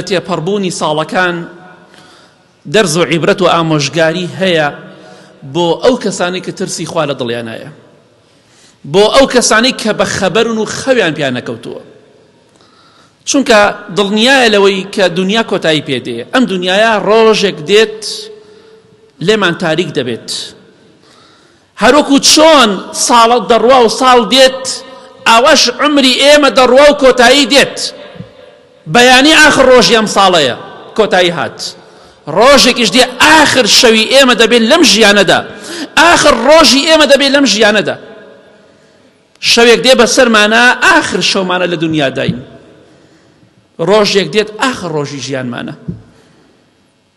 تێپەڕبوونی ساڵەکان دەرز و عیبرەت و ئامۆژگاری هەیە بۆ ئەو کەسانی کە ترسی خوا لە دڵیانایە بۆ ئەو کەسانی کە بە خەبەرن و خەویان پیان نەکەوتووە چونکە دڵنیایە لەوەی کە دنیا کۆتایی پێدێ ئەم دنیاە ڕۆژێک دێت لێمان تاریک دەبێت هەروەکو چۆن ساڵە دەڕوا و ساڵ دێت، ئاواش عومری ئێمە دەڕوا و کۆتایی دێت. بەیانی ئاخر ڕۆژی ئەم ساڵەیە کۆتایی هات. ڕۆژێکیش دێ ئاخر شەوی ئێمە دەبێت لەم ژیانەدا. ئاخر ڕۆژی ئێمە دەبێت لەم ژیانەدا. شەوێک دێ بەسەرمانە ئاخر شەومانە لە دنیاداین. ڕۆژێک دێت ئاخر ڕۆژی ژیانمانە.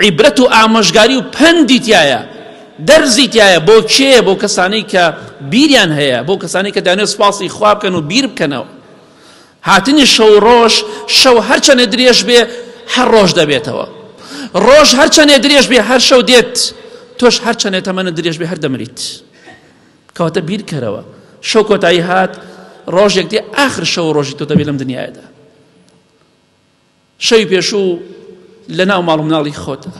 عیبرەت و ئامۆژگاری و پەندی تیایە دەرزی تیایە بۆ کێیە بۆ کەسانەی کە بیریان هەیە بۆ کەسانەی کە دانێ سوپاسی خوا بکەن و بیر بکەنەوە هاتنی شەو ڕۆژ شەو هەرچەنێ درێژ بێ هەر ڕۆژ دەبێتەوە ڕۆژ هەرچەنێ درێژ بێ هەر شەو دێت تۆش هەرچەنێ تەمەنە درێژ بێ هەر دەمریت کەواتە بیرکەرەوە شەو کۆتایی هات ڕۆژێک دێ ئاخر شەو ڕۆژی تۆ دەبێت لەم دنیادا شەوی پێشوو لە ناو ماڵ و مناڵی خۆتە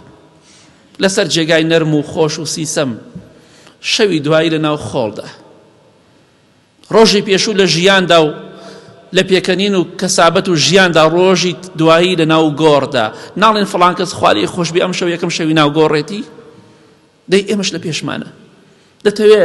لەسەر جێگای نەرم و خۆش و سیسەم شەوی دوایی لە ناو خۆڵدا ڕۆژی پێشوو لە ژیاندا و لە پێکەنین و کەسابەت و ژیاندا ڕۆژی دوایی لە ناو گۆڕدا ناڵێن فڵان کەس خوارەی خۆشببی ئەم شەو یەکەم شەوی ناو گۆڕێتی دەی ئێمەش لە پێشمانە دەتەوێ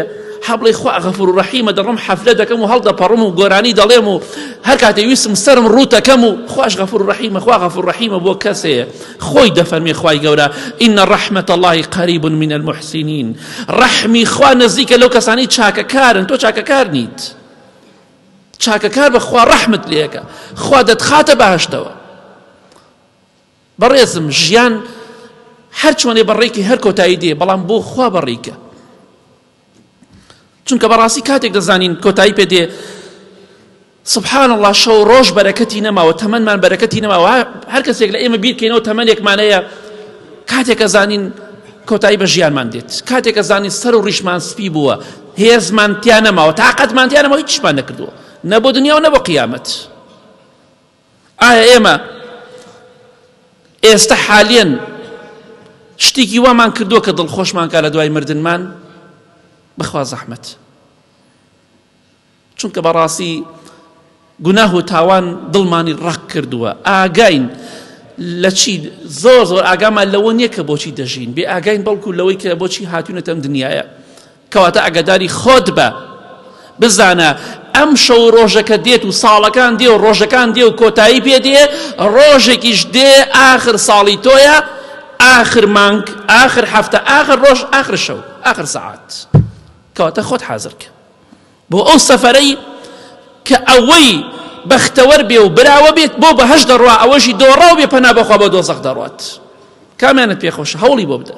حەبڵی خوا غەفور و ڕەحیمە دەڕم حەفلە دەکەم و هەڵدەپەڕم و گۆرانی دەڵێم و هەر کاتێ ویستم سرم ڕووتەکەم و خوش غەفور و ڕەحیمە خوا غەفور ڕەحیمە بۆ کەسەیە خۆی دەفەرمێ خوای گەورە ئین ڕەحمەت اللهی قریب من المحسنین ڕەحمی خوا نزیکە لەو کەسانی چاکەکارن تۆ چاکەکار نیت چاکەکار بە خوا ڕەحمت لێکە خوا دەتخاتە بەهشتەوە بەڕێزم ژیان هەر چۆنێ بەڕێکی هەر کۆتایی دێ بەڵام بۆ خوا بەڕیکە چونکە بەڕاستی کاتێک دەزانین کۆتایی پێ دێ سبحان الله شەو ڕۆژ بەرەکەتی نەماوە تەمەمان بەرەکەتی نەماوە هەر کەسێک لە ئێمە بیرکەینەوە تەمەێکمانەیە کاتێکە زانین کۆتایی بە ژیانمان دێت کاتێکە زانین سەر و ڕیشمان سپی بووە هێزمان تیا نەماوە تااقەتمان تیانەوە هیچمان نەکردووە نە بۆ دنیا و نە بۆ قیامەت ئایا ئێمە ئێستا حالیەن شتێکی وامان کردووە کە دڵخۆشمان کا لە دوای مردنمان بخوا زەحمت چونکە بەڕاستی گوناه و تاوان دڵمانی ڕق کردووە ئاگاین لە چی زۆر زۆر ئاگامان لەوە نییە کە بۆچی دەژین بێ ئاگاین بەڵکو لەوەی کە بۆچی هاتوونەتەم دنیاە کەواتە ئاگاداری خۆت بە بزانە ئەم شەو ڕۆژەکە دێت و ساڵەکان دێ و ڕۆژەکان دێ و کۆتایی پێ دێ ڕۆژێکیش دێ ئاخر ساڵی تۆیە ئاخر مانگ ئاخر هەفتە ئاخر ڕۆژ ئاخر شەو ئاخر سەعات کەواتە خۆت حازرکە بۆ ئەو سەفەرەی کە ئەوەی بەختەوەر بێ و براوە بێت بۆ بەهش دەڕوا ئەوەشی دۆڕاو بێ پەنا بەخوا بە دۆزەق دەڕات کامیانت پێخۆش هەوڵی بۆ بدە